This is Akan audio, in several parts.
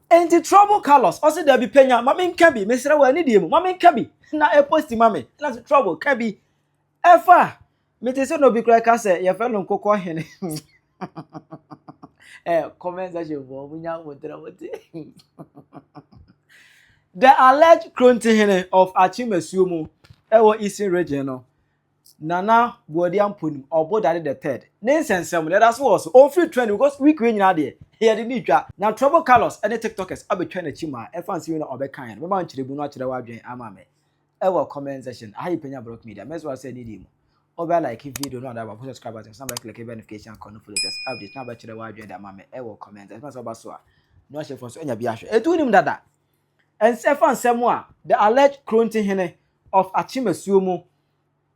Enti Trouble Carlos, ɔse dabi panya, ma me nka bi, mesrɛ wɔ anidie mu, ma me nka bi, na ɛposti ma me, na se Trouble ka bi, ɛfa, mete se na obi kora ka sɛ yɛfrɛ no nkokɔ hene, eh, comment section fɔ, ɔmo nya mo tra mo te, the alleged Krontihene of Akyem Asuo mu, ɛwɔ Eastern Region no, Nana Boadi Ampɔnim, Ɔbo Dade the third, ne nsɛnsɛm no, yɛda so wɔ so. Ɔmfiri trend because week wei nyinaa deɛ, yɛde no retwa. Na Trouble Carlos ne Tiktokers abɛtwa n'akyi ma ɛfa nsɛm yi na ɔbɛkaeɛ no, mɛma wo nkyerɛmu no akyerɛ w'adwene ama me wɔ comment section. Aha yɛ Panya Brock Media, mɛsrɛ wo sɛ nidie mu, wobɛ like video no ada baako, subscribe button so na bɛclicke bell notification icon no for latest updates na wobɛkyerɛ w'adwene de ama me wɔ comment section. Ɛsɛ sɛ woba so a na wahyɛ fo so anya bi ahwɛ. Ɛtu wonim dada! Ɛnsɛ fa nsɛm a The Alleged Kronti Hene of Akyemasuo mu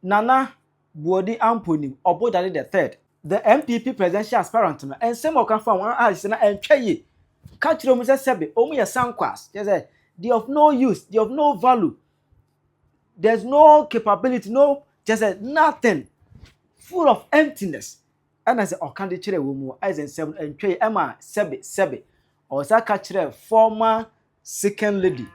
Nana Boadi Ampon Nim Ɔbodade the Third, The NPP Presidential Aspirant no nsɛm a ɔka faa wɔn a ɛsɛ na ɛntwa yie ka kyerɛ wɔn sɛ sɛbe wɔn yɛ sankwas, kyerɛ sɛ they of no use, they of no value, there's no capability, no kyerɛ sɛ nothing, full of emptiness. Ɛna sɛ ɔka de kyerɛɛ wɔn mu, ayɛ sɛ nsɛm no ntwɛe ɛma sɛbe, sɛbe, ɔsan ka kyerɛɛ former second lady,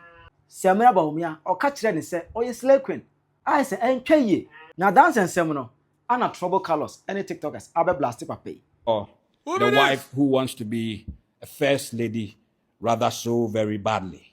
Samira Bawumia, ɔka kyerɛɛ no sɛ ɔyɛ slay queen, ayɛ sɛ ɛntwɛe yie. Na dansa nsɛm no, ana Trouble Carlos ne tiktokers abɛ blaste papa yi. Or the wife who wants to be a first lady rather so very badly.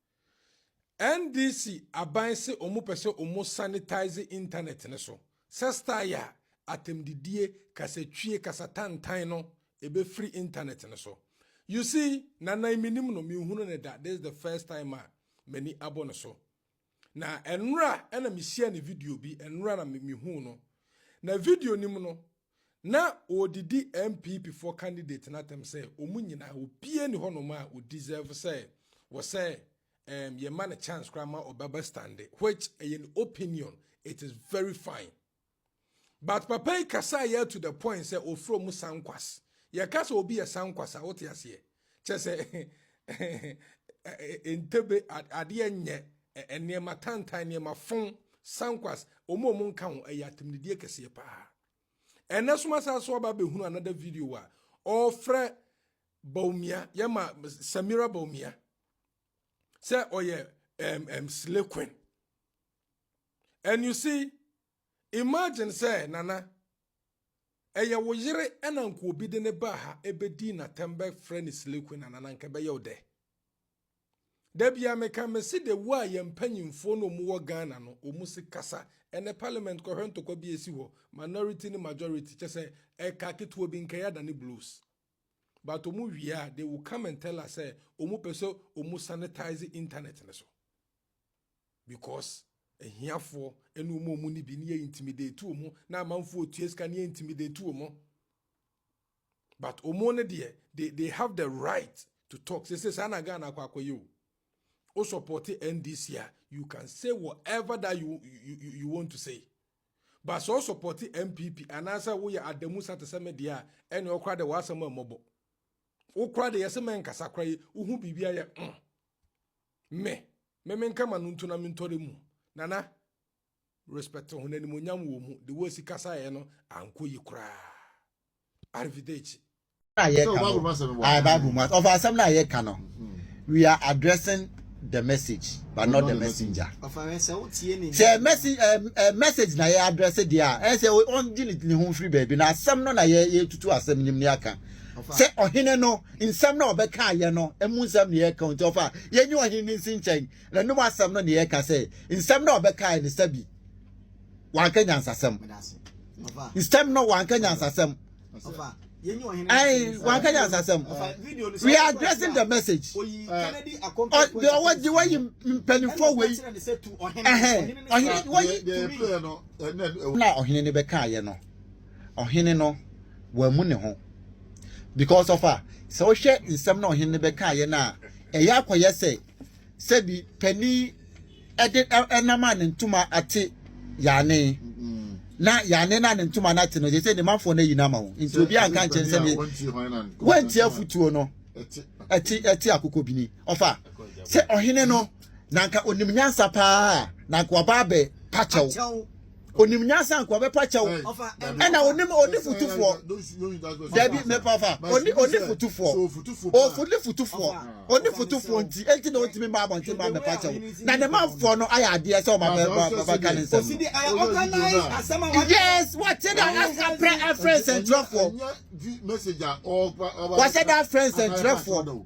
NDC aban se wɔn pɛ sɛ wɔn sanitize internet no so sɛ style a atɛmdidie, kasatwie, kasatantan no ɛbɛfiri internet no so. You see, Nana menim no, menhunu ne da, this is the first time a m'ani abɔ no so. Na ɛnora ɛna mehyia ne video bi, ɛnora na mehuu no. Na video nim no, Na ɔredidi NPP foɔ candidate no atɛm sɛ wɔn nyinaa obiara ni hɔnom a ɔ deserve sɛ wɔ sɛ um, yɛma no chance koraa ma ɔbɛba stande which ɛyɛ ne opinion it is very fine but papa yi kasaeɛ to the point sɛ ɔfrɛ mu sankwas yɛka sɛ obi yɛ sankwas a wote aseɛ kyɛ sɛ ntebe adeɛ nyɛ nneɛma tantan nneɛma fon sankwas wɔn a wɔn nka ho ɛyɛ atemnidie kɛseɛ paa ɛnɛ soma saa so aba abɛhunu another video a ɔrefrɛ baumia yɛma samira baumia sɛ ɔyɛ um, um, slay queen and you see Imagine sɛ Nana ɛyɛ wo yere ɛna nka obi de ne baa ha ɛbɛdii n'atɛm bɛfrɛ ne slay queen anana nka ɛbɛyɛ wo dɛ da bia meka mese de wo a yɛn mpanyimfoɔ no ɔmu wɔ Ghana no ɔmu se kasa ɛnɛ parliament kɔhwɛ ntɔkwa bi esi hɔ minority ne majority kyɛ sɛ ɛka ketewa bi nka yɛada ne blows but ɔmu wie a they will come and tell us sɛ ɔmu pɛ sɛ ɔmu sanitize internet no so because ahiafoɔ ɛne wɔn a wɔn ni bi ne yɛ intimidate wɔn na amanfoɔ tua sika ne yɛ intimidate wɔn but wɔn no deɛ they they have the right to talk sese saa na ghana akɔ akɔ yɛ o o support ndc a you can say whatever that you you you, you want to say but so support npp anaasɛ woyɛ adamu sa te sɛ me deɛ a ɛne ɔkora de w'asɛm a mmɔbɔ wokora de yɛsɛ mɛnkasa kora yi wohu biribi ayɛ mm. Me, me menka ma no ntu na mentɔre mu. Nana, respect ho na animonyam wɔ mu. De wɔasi kasaeɛ no ankɔ yi koraa. Arrivederci. a yɛka no ae bible mu asɛm ɔfa asɛm no a yɛka no we are addressing the message but not the messenger sɛ message eh, eh, message na yɛ address deɛ a ɛn sɛ ɔngye ne ho mfiri baabi na asɛm no na yɛtutu asɛm nim ne aka sɛ ɔhene no nsɛm no a ɔbɛkaa yɛ no mu nsɛm na yɛka o, nti ɔfa yɛnyɛ ɔhene no nsi nkyɛn, n'anom asɛm no na yɛka sɛ nsɛm no a ɔbɛkaeɛ no sɛbi wanka nyansasɛm, nsɛm no wanka nyansasɛm. Hey, one can answer some. We are addressing the message. Or the what the way you penny for way. Eh, or he, what you. Now, or he never can, you know. ɔhene no wammu ne ho because of a sɛ wohwɛ nsɛm na ɔhene no bɛkaeɛ no a ɛyɛ akɔyɛ sɛ sɛbi panin ɛde ɛnam a ne ntoma ate yaane mm-hmm. na yaane na ne ntoma no ate no sɛ sɛ ne manfoɔ no ayi no ama wo nti obi anka nkyɛn sɛ ne wanti afotuo no ɛte ɛte akokɔ bini ɔfa sɛ ɔhene no na anka onim nyansa paa a na anka waba abɛ pa kyɛw onim nyansa anka wabɛ pa kyɛw ɛna onim oni futufoɔ dabi mɛpafa oni oni futufoɔ ofuli futufoɔ oni futufoɔ nti eti na otimi ma abɔnten ma mɛpa kyɛw na ne manfoɔ no ayɛ adeɛ sɛ ɔma bɛ ba ba ka ne nsɛm yes wɔte da afrɛ afrɛ nsɛnkyerɛfoɔ wɔsɛ da afrɛ nsɛnkyerɛfoɔ.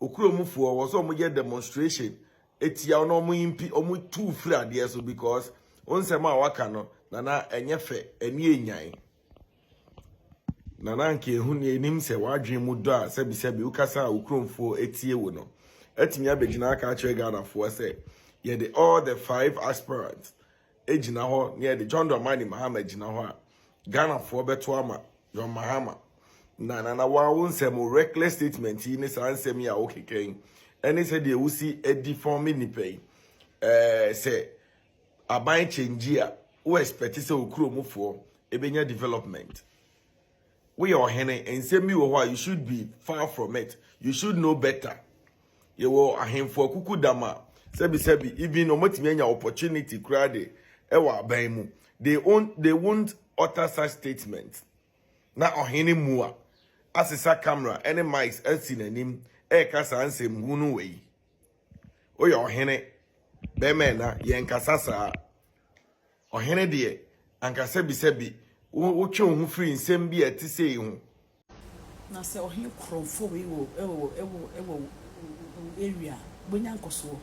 Okurom foɔ wɔ sɛ wɔn yɛ demonstration etia wɔn na wɔn impi wɔn tu firi adeɛ so because wɔn nsɛm a waka no nana ɛnyɛ fɛ ɛni enyan nana nka ehu ni enim sɛ wadwin mu dɔ a sɛbi sɛbi wokasa a okurom foɔ etie wo no ɛtumi abɛgyina aka akyerɛ Ghana foɔ sɛ yɛde all the five aspirants. gyina hɔ na yɛde John Dramani Mahama gyina hɔ a, Ghanafoɔ bɛto ama John Mahama. Na Nana waa wo nsɛm o, reckless statement yi ne saa nsɛm yi a wokeka yi, ɛne sɛdeɛ wosi adi fɔme nnipa yi, eh, sɛ aban kyɛngyi a, wo expect sɛ okuromufoɔ ɛbɛnya development. Woyɛ ɔhene, nsɛm bi wɔ hɔ a, you should be far from it, you should know better. Yɛwɔ ahemfo akuku dam a sɛbisɛbi even wɔatumi anya opportunity koraa de ɛwɔ aban mu they on they won't utter such statement na ɔhene mua asesa camera ɛne mics asi n'anim ɛreka saa nsɛm hunu wɔ yi oyɛ ɔhene bɛrima ɛna yɛn kasa saa. Ɔhene deɛ, anka sɛbisɛbi wo wotwe wo ho firi nsɛm bi a ɛte sei ho. Na sɛ ɔhene korɔ mfo wei wɔ wɔ wɔ wɔ wo area a, wobɛnya nkɔsoɔ.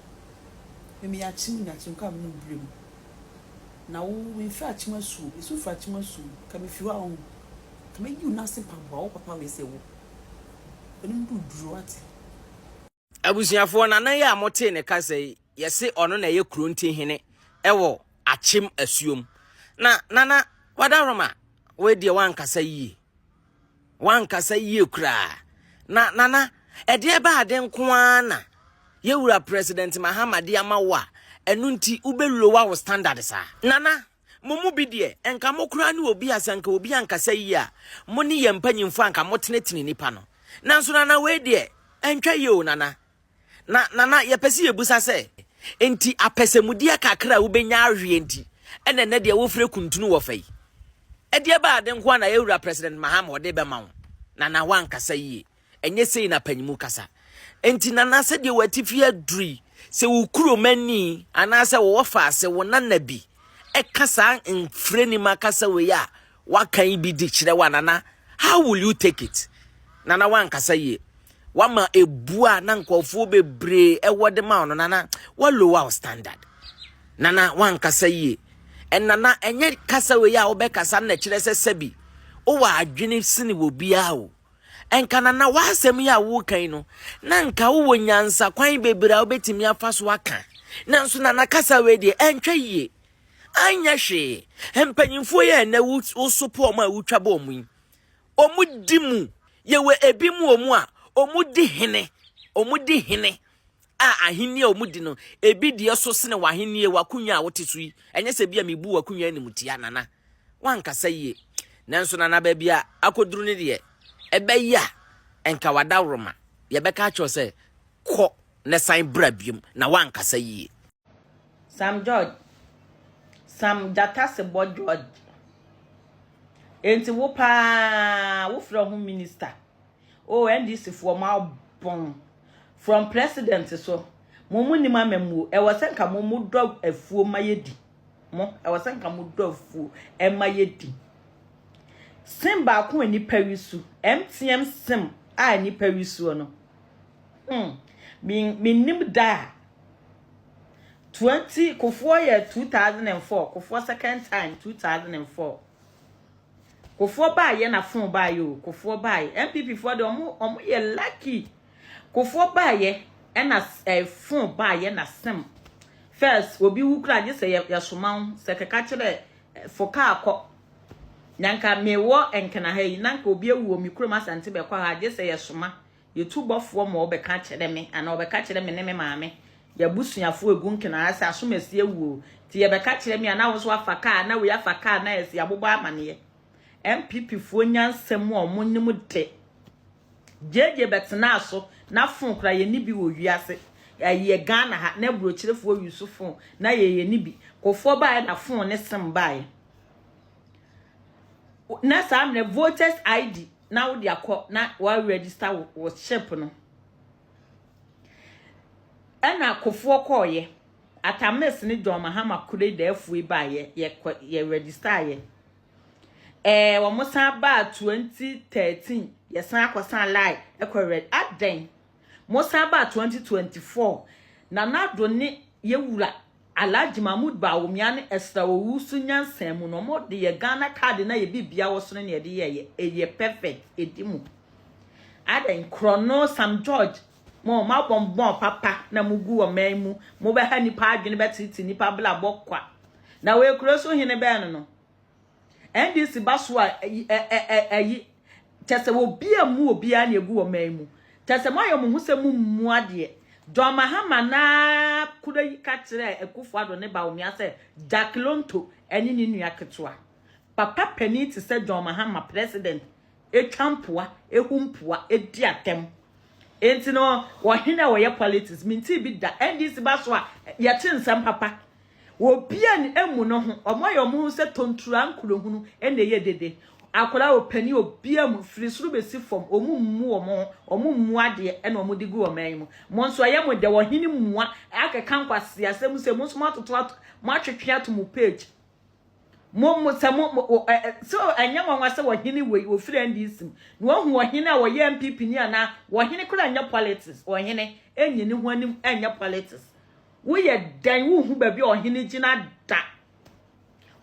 Me meyɛ Akyem na Akyemkɔ a menom berɛ mu. Na wo memfiri Akyem asuo, ɛsu firi Akyem asuo mu, ka mefiri hɔ a wohu. Ka mɛyi wo nase mpaboa, wo papa wei sɛ wo. W'anim duru duro, woate. Abusuafoɔ, nana yi a motee ne kasa yi, yɛse ɔno na ɛyɛ Kuronti hene ɛwɔ Akyem Asuom. Na nana Wadaroma, wei deɛ wankasa yie. Wankasa yie koraa. Na nana, ɛdeɛ bɛ ade nko ara na yɛwura President Mahama de ama wo a, ɛno nti wobɛwurowa wo standard saa. Nana, Mo mu bi deɛ, nka mo koraa ne obi a sɛ anka obi ankasa yie a, mo ne yɛn mpanyimfoɔ anka motenetene nipa no. Nanso Nana wei deɛ, ɛntwa yie o Nana. Na Nana, yɛpɛ sɛ yɛbusa sɛ, enti apɛsɛmudeɛ kakra a wobɛnya aweɛ nti ɛna ɛnɛ deɛ wofrɛ kuntunu wɔ fa yi? Ɛdeɛ bɛn ade nko ara na yɛn wura President Mahama ɔde bɛma wo? Nana, woankasa yie. Ɛnyɛ sei na apanyimu kasa. Enti nana sɛdeɛ w'atifi aduru yi, sɛ wo kuromani anaasɛ wo wɔfaase, wo nana bi ɛka saa mfrɛnim akasa wei a waka yi bi de kyerɛ wo a, nana, how will you take it? Nana, wankasa yie. Wama ebu a na nkurɔfoɔ bebree ɛwɔ de ma ɔno, nana, wa lower wo standard. Nana, wankasa yie. Ɛnana, ɛnyɛ kasa wei a wobɛkasa na ɛkyerɛ sɛ sɛbi wowɔ adwene sini wɔ biara o. Anka na na w'asɛm yi a woreka yi no, na anka wowɔ nyansa kwan bebree a wobɛtumi afa so aka. Nanso na na kasa wei deɛ ɛntwa yie. Anyɛ hwee. Mpanyimfoɔ yi a ɛnɛ wosopo wɔn a wotwa bɔ wɔn yi, wɔdi mu. Yɛwɔ ebi mu wɔn a wɔdi hene. Wɔdi hene. a ahenni a wɔdi no, ebi di so sene w'ahenni, w'akonnwa a wote so yi. Ɛnyɛ sɛ bi a mebu w'akonnwa animtia, Nana. Wankasa yie. Nanso, Nana, baabi a akɔduru no deɛ, ɛbɛyɛ a, ɛnka w'adaworoma. Yɛbɛka akyerɛ sɛ, kɔ na san bra biom, na wankasa yie. Sam George, Sam Gyatasebɔ George. Enti wo paa, wofrɛ ho minister. Oh NDC foɔ mo abɔn. From president so. Mo mo nim amammuo. Ɛwɔ sɛ nka mo mo dɔ afuo ma yɛ di. Mo ɛwɔ sɛ nka mo dɔ afuo ɛma yɛ di. Sim baako a nipa wi so. MTM sim a nipa wi soɔ no. Hmm. Me nim da a. 20 kofoɔ yɛ 2004 kofoɔ second time 2004. Kofoɔ baa yɛ na fon baa yɛ o kofoɔ baa yɛ NPP foɔ de ɔmo ɔmo yɛ lucky kofoɔ baa yɛ ɛna ɛɛ fon baa yɛ na sem first obi wu kura gye sɛ yɛ yɛ soma ho sɛ kɛka kyerɛ fo kaa kɔ na nka mewɔ nkena ha yi na nka obi awu wɔ me kurom asante bɛkɔ ha gye sɛ yɛ soma. Yɛ tu bɔfoɔ ma ɔbɛka kyerɛ me anaa ɔbɛka kyerɛ me ne me maame, yɛ abusuafoɔ ɛgu nkena asɛ asom asi awu o, nti yɛ bɛka kyerɛ me a na wo nso afa kaa na wei afa kaa na asi abobɔ amaneɛ. NPP foɔ nya nsɛm a ɔmo nim de. JJ bɛtenaa so na phone koraa yɛ nni bi wɔ wiase ɛyɛ Ghana ha na aburokyerefoɔ use phone na yɛ yɛ nni bi. Kofoɔ baeɛ na phone ne sim baeɛ na saa mmerɛ voters ID na wode akɔ na wɔaregister wo wo ship no ɛna kofoɔ kɔɔyɛ atamis ne john mahama kure da afue baayɛ yɛkɔ yɛ register yɛ ɛɛ wɔn san baa 2013 yɛsan akɔsan lai ɛkɔ reg adɛn mo san baa 2024 na nado ne yɛwura Alhaji Mahmood Bawumia ne Esther Owusu nyansa mu na wɔn de yɛ Ghana card na yɛ bibia wɔ so ne na yɛde yɛ yɛ ɛyɛ perfect ɛdi mu adɛn korɔno Sam George mo wɔn abɔ mbɔn papa na mo gu wɔ man mu mo bɛha nipa adwene bɛtete nipa bla bɔ kwa na wɔ ekuro so hene bɛn no no NDC ba so a ɛyi kyɛ sɛ obi a mu obi a na egu wɔ man mu kyɛ sɛ moayɛ mo ho sɛ mo mmu adeɛ John Mahama na kura yi ka kyerɛ Akufo Addo ne Bawumia sɛ Jack Lonto ɛne ne nua ketewa papa panin te sɛ John Mahama president etwa mpoa ehu mpoa edi atɛm enti no wɔhene a wɔyɛ politics minti bi da NDC ba so a yɛte nsɛm papa Wɔbian amu no ho, wɔayɛ wɔn ho sɛ tontura nkurohunu na ɛyɛ dede. Akwadaa, ɔpanin, obiara mu, firi soro bɛsi fam, wɔmmu wɔn ho, wɔmmu adeɛ na wɔde gu ɔman yi mu. Mo nso ɛyɛ mo dɛ, ɔhene mua, akeka nkwaseasɛm sei, mo nso moatoto ato, moatwetwe ato mo page. Mo, mo, sɛ mo, mo ɛ, ɛ, so ɛnyɛ nwanwa sɛ ɔhene wei, ɔfiri NDC mu, na wahu ɔhene a ɔyɛ NPP ni anaa, ɔhene koraa nyɛ politics, ɔhene ɛnyɛ ne ho anim ɛnyɛ politics. Woyɛ dɛn wohu baabi a ɔhene gyina da?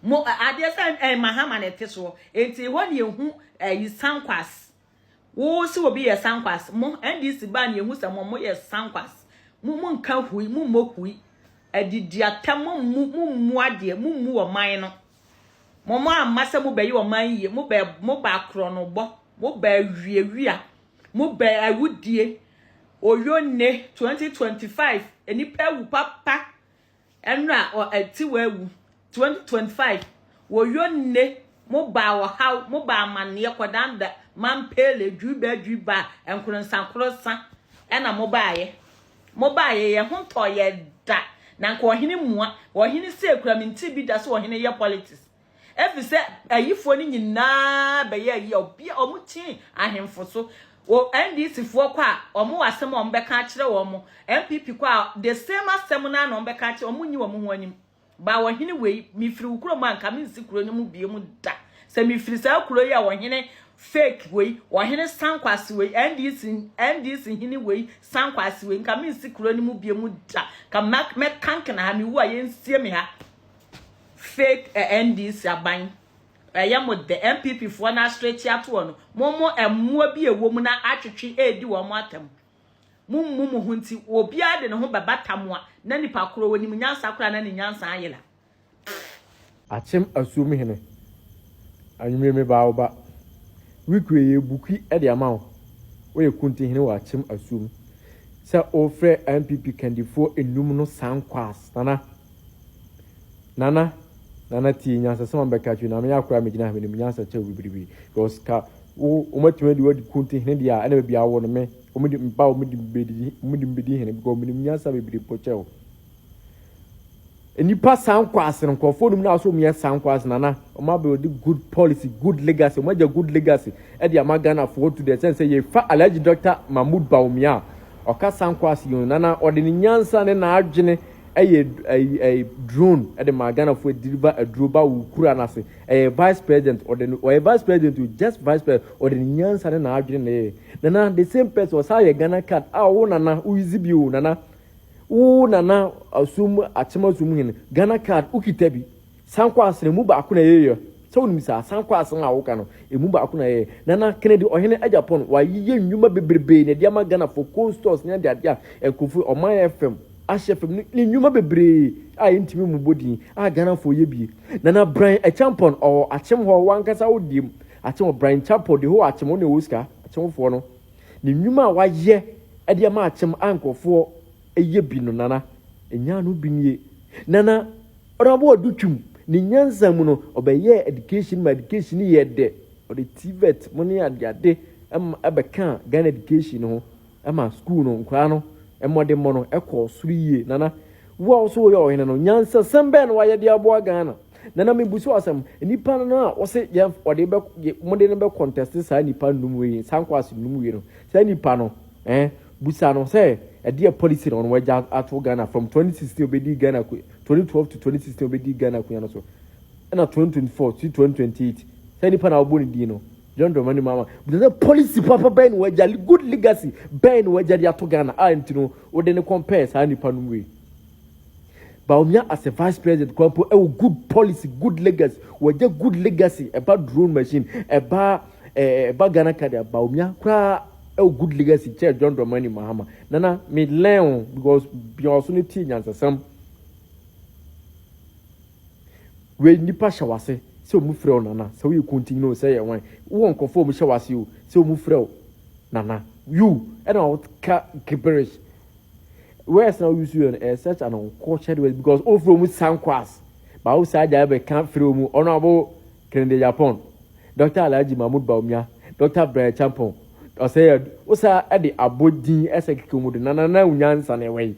Mo adeɛ sɛ ɛn mahama na ɛte soɔ enti ɛhɔ ne ɛhu ɛyi sankwas. Wo se obi yɛ sankwas mo NDC baa ne ɛhu sɛ mo mo yɛ sankwas. Mo mo nka hui mo mmɔ hui. Adidi atɛ mo mmu mo mmu adeɛ mo mmu ɔman no. Mo mo amma sɛ mo bɛyɛ ɔman yie mo bɛ mo bɛ akorɔnobɔ mo bɛ awiawia Mo bɛ awu die oyo ne 2025 nipa awu papa ɛnra ɔ ɛti wɔ awu 2025 oyo ne mo ba ɔhaw mo ba amaneɛ kɔdan da mampele dwi bɛ dwi ba ɛnkoronsa koronsa ɛna mo baayɛ mo baayɛ yɛ ho ntɔ yɛ da na nka ɔhene mua ɔhene sɛ kura me nti bi da sɛ ɔhene yɛ politics efisɛ ayifoɔ no nyinaa bɛyɛ ayi a obi a wɔn kyin ahemfo so o NDC foɔ kɔ a wɔn wɔ asɛm a wɔn bɛka akyerɛ wɔn NPP kɔ a the same asɛm naa na wɔn bɛka akyerɛ wɔn nyi wɔn ho anim baa ɔhene wei mefiri wo kuro mu a nka me nsi kuro no mu bie mu da sɛ mefiri saa kuro yi a ɔhene fake wei ɔhene sankwase wei NDC NDC hene wei sankwase wei nka me nsi kuro no mu bie mu da ka mɛka nkena ha me wu a yɛnsie me ha fake ɛ NDC aban ɛyɛ mo dɛ NPP foɔ no asrɛ tiatoɔ no mo mo ɛmoa bi ɛwɔ mu na atwetwe ɛɛdi wɔn mo atɛm mo mmu mo ho nti obiara de ne ho bɛbata mo a na nipa korɔ wɔ nim nyansa koraa na ne nyansa ayera. Akyem Asuom hene, anwummere mebaa wo ba. Week wei yɛyɛ bukui de ama wo, woyɛ Kunti hene wɔ Akyem Asuom, sɛ wofrɛ NPP kandifoɔ nnum no sankwaas, Nana. Nana Nana tie nyansasɛm a mɛka akyerɛ na meyɛ akora a megyina ha menim nyansa kyɛ wo bibiribi because ka wo wɔmatumi adi wadi kun te hene deɛ a ɛna baabi a wɔ no me wɔmedi mpa wɔmedi mbedi wɔmedi mbedi hene because menim nyansa bebree mpo kyɛ wo nnipa saa nkwaase no nkurɔfoɔ nom na asɔ mu yɛ saa nkwaase nana wɔn abɛwɔde good policy good legacy wɔn agya good legacy ɛde ama ghanafoɔ to deɛ sɛn sɛ yɛfa alhaji dr mahmood bawumia a ɔka saa nkwaase yɛn nana ɔde ne nyansa ne n'adwene Ɛyɛ ɛyi ɛyi drone ɛde maa Ghana foɔ deliver aduro ba wo kura no ase ɛyɛ vice president ɔde no ɔyɛ vice president o just vice president ɔde ne nyansa ne n'adwene na ɛyɛ nana the same person ɔsan yɛ Ghana card a wo nana wo use bi o nana wo nana asom akyem asom hene Ghana card wo kita bi. Sankwaase no, emu baako na yɛyɛ. Sɛ wonim saa, Sankwaase no a woka no, emu baako na yɛyɛ. Nana, Kennedy, ɔhene agya pɔn, wayeyɛ nnwuma bebrebe na ɛde ama Ghanafoɔ, coal stores ne adeade a nkurɔfoɔ, ɔman FM, ahyɛ fam no, ne nnwuma bebree a yɛntumi mmobɔ din a Ghanafoɔ yɛ bi. Nana Bran Acheampong, ɔwɔ Akyem hɔ, wo ankasa wo deɛm, Akyem, Bran Champong, the whole Akyem, wo na ɛwɔ sika, Akyemfoɔ no, ne nnwuma a wayɛ de ama Akyem a nkurɔfoɔ yɛ bi no, Nana, ɛnyaa no bi nie. Nana. Ɔno ara bɔɔ do twum. Ne nyansa mu no, ɔbɛyɛɛ education ma education no yɛɛ dɛ. Ɔde TVET mu ne adeade ma bɛkaa Ghana education no ho ma skuul no nkwadaa no mmɔdemmɔ no kɔɔ soro yie. Nana, wo a wo nso woyɛ ɔhene no, nyansasɛm bɛn na woayɛ de aboa Ghana? Nana, mebusa wo asɛm, nnipa no a wose yɛn wɔde bɛ mode no bɛkɔntɛste saa nnipa nnum wei, saa nkwaase nnum wei no, saa nnipa no, eh, Busa no sɛ ɛdeɛ policy na ɔno wagya ato Ghana from twenty sixteen obedii Ghana akonya twenty twelve to twenty sixteen obedii Ghana akonya no so ɛna twenty twenty four si twenty twenty eight sɛ nipa na ɔbɔ ne din no John Dramani Mahama busa sɛ policy papa bɛn na wagya good legacy bɛn na wagya de ato Ghana a nti no wode ne compare saa nipa no wei Bawumia as a vice president kwan po ɛwɔ good policy good legacy wɔgya good legacy ɛba drone machine ɛba ɛɛ ɛba Ghana card Bawumia koraa ɛwɔ good legacy kyɛɛ John Dramani Mahama nana me learn o because bia ɔso no tie nyansasɛm wei nipa hyɛ wase sɛ ɔmu frɛ o nana sɛ woyɛ kuntin no sɛ yɛ wan wowɔ nkurɔfoɔ ɔmu hyɛ wase o sɛ ɔmu frɛ o nana you ɛna ɔka gibberish words na woyusu yɛ no ɛyɛ such an uncultured words because wofrɛ ɔmu sankwase baawo saa gya ɛbɛka frɛ ɔmu ɔno abo Kennedy Agyapong, Dɔkta Alhaji Mahmood Bawumia, Dɔkta Brian Acheampong, Osei Adu, Osaa de abɔ din sɛ Kekaumu de Nana Nana Nyansa na ɛwɔ yi.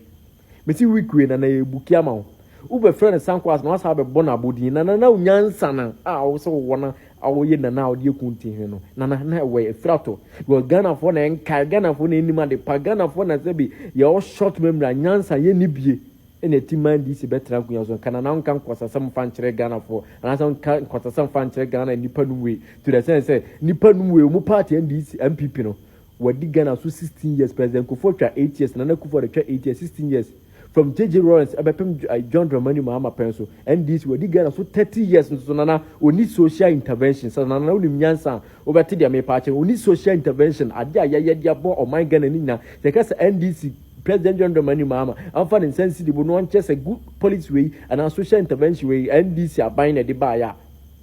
Mesi Wikue na na yɛbuki ama wo. Wobɛfrɛ no Sankoas na woasan abɛbɔ no abɔdin Nana Nana Nyansa no a wo sɛ wowɔ no a woyɛ Nana a wode aku Ntihene no. Nana na ɛwɔ yi, Afirato. Because Ghanafoɔ na ɛnkae, Ghanafoɔ na ɛnnim adepa, Ghanafoɔ na sɛbe yɛwɔ short memory a Nyansa yɛnni bie. na ɛte ma NDC bɛtena akonwa so nka nana nka nkwasasɛm mfa nkyerɛ Ghana foɔ anaasɛ nka nkwasasɛm mfa nkyerɛ Ghana nnipa nom wei to the sense sɛ nnipa nom wei ɔmo party NDC MPP no wɔadi Ghana so 16 years President Kufuor twa 8 years Nana Kufuor de twa 8 years 16 years from JJ Lawrence ɛbɛpem John Dramani Mahama pɛn so NDC wɔadi Ghana so 30 years nso so Nana ɔni social intervention sɛ Nana wonim nyansa a wobɛte deɛ mepa akyɛ ɔni social intervention adeɛ a yɛyɛ de abɔ ɔman Ghana ne nyina yɛka sɛ NDC President John Dramani Mahama amfa ne nsa ansi de bo na ɔnkyɛ sɛ good policy wei anaa social intervention wei NDC aban na ɛde baeɛ a,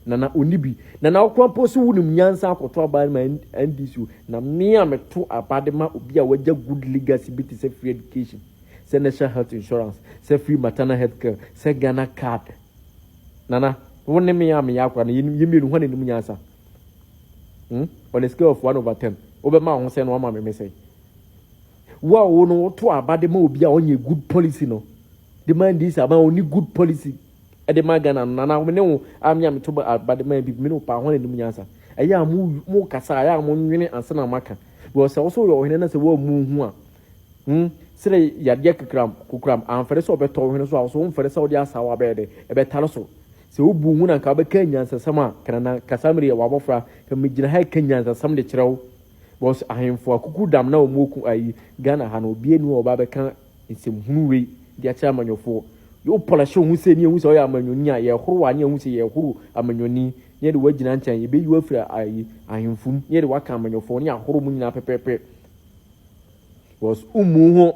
Nana ɔnni bi. Nana wo koraa mpo so wonim nyansa akɔto aba de ma NDC o. Na me a meto aba de ma obi a wagya good legacy bi te sɛ free education, sɛ national health insurance, sɛ free maternal health care, sɛ Ghana card. Nana, wo ne me a meyɛ akora no yɛnim, yɛ mmienu hwan na ɛnim nyansa? Hmm? On a scale of one over ten, wobɛma wo ho sɛn na wama me me sɛn? Wo a wo no woto aba de ma obi a ɔnyɛ good policy no de ma ndc aba a ɔni good policy de ma Ghana no nana me ne wo a me a meto aba de ma NPP me ne wo paa hwan anim nyansa ɛyɛ a mo mo kasa ɛyɛ a mo nwene ansa na maka because sɛ wo so yɛ ɔhene na sɛ woammu ho a hmm sere yadeɛ kakram kokoram amfɛre sɛ ɔbɛtɔ wo hene so a wo so womfɛre sɛ wode asawa bɛyɛ dɛ ɛbɛtare so sɛ wobu ho na nka wobɛka nyansasɛm a kanana kasa mmerɛ yɛ wabɔfra ka megyina ha ɛka nyansasɛm de kyerɛ wo Because ahemfo akukudam na wɔn oku ayi Ghana ha no obi enu a ɔba bɛka nsɛm hunu wei de akyerɛ amanyɔfoɔ. Yo pɔlɛhye wo ho sɛ ni ehu sɛ ɔyɛ amanyɔni a yɛhoro wa ne ehu sɛ yɛhoro amanyɔni ne yɛde wagyina nkyɛn yɛbɛyi wafiri ayi ahemfo mu ne yɛde waka amanyɔfoɔ ne yɛahoro mo nyinaa pɛpɛpɛ. Because ummu ho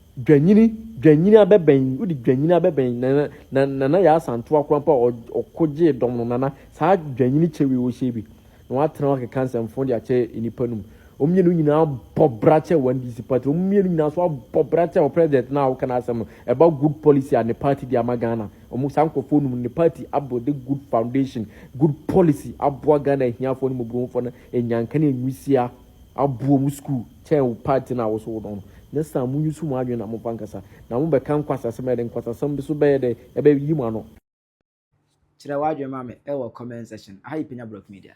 Dwanyini, dwanyini abɛbɛn, wode dwanyini abɛbɛn nana, na, nana yɛ asantewa koraa mpo a ɔ, ɔko gyee dɔm no, nana, saa dwanyini kyɛ wei ɔhyɛ bi, na watena hɔ akeka nsɛmfo de akyɛ nnipa no mu. Wɔn mmienu nyinaa abɔ bra kyɛ wɔn DC party, wɔn mmienu nyinaa nso abɔ bra kyɛ wɔ president no a woka n'asɛm no, ɛba good policy a ne party de ama Ghana, wɔn, saa nkurɔfoɔ nom no, ne party abuilde good foundation, good policy aboa Ghana ahiafoɔ ne mmɔborɔhufoɔ no anya nkane nwisiaa. aboa mo sukuu kyɛn wo party no a wo so wodɔn no. Next time mo use mo adwene na momfa nkasa. Na mo bɛka nkwasasɛm a ɛde nkwasasɛm bi so bɛyɛ dɛ ɛbɛ yi mo ano. Kyerɛ w'adwene ma me wɔ comment section. Aha yɛ Penya Block Media.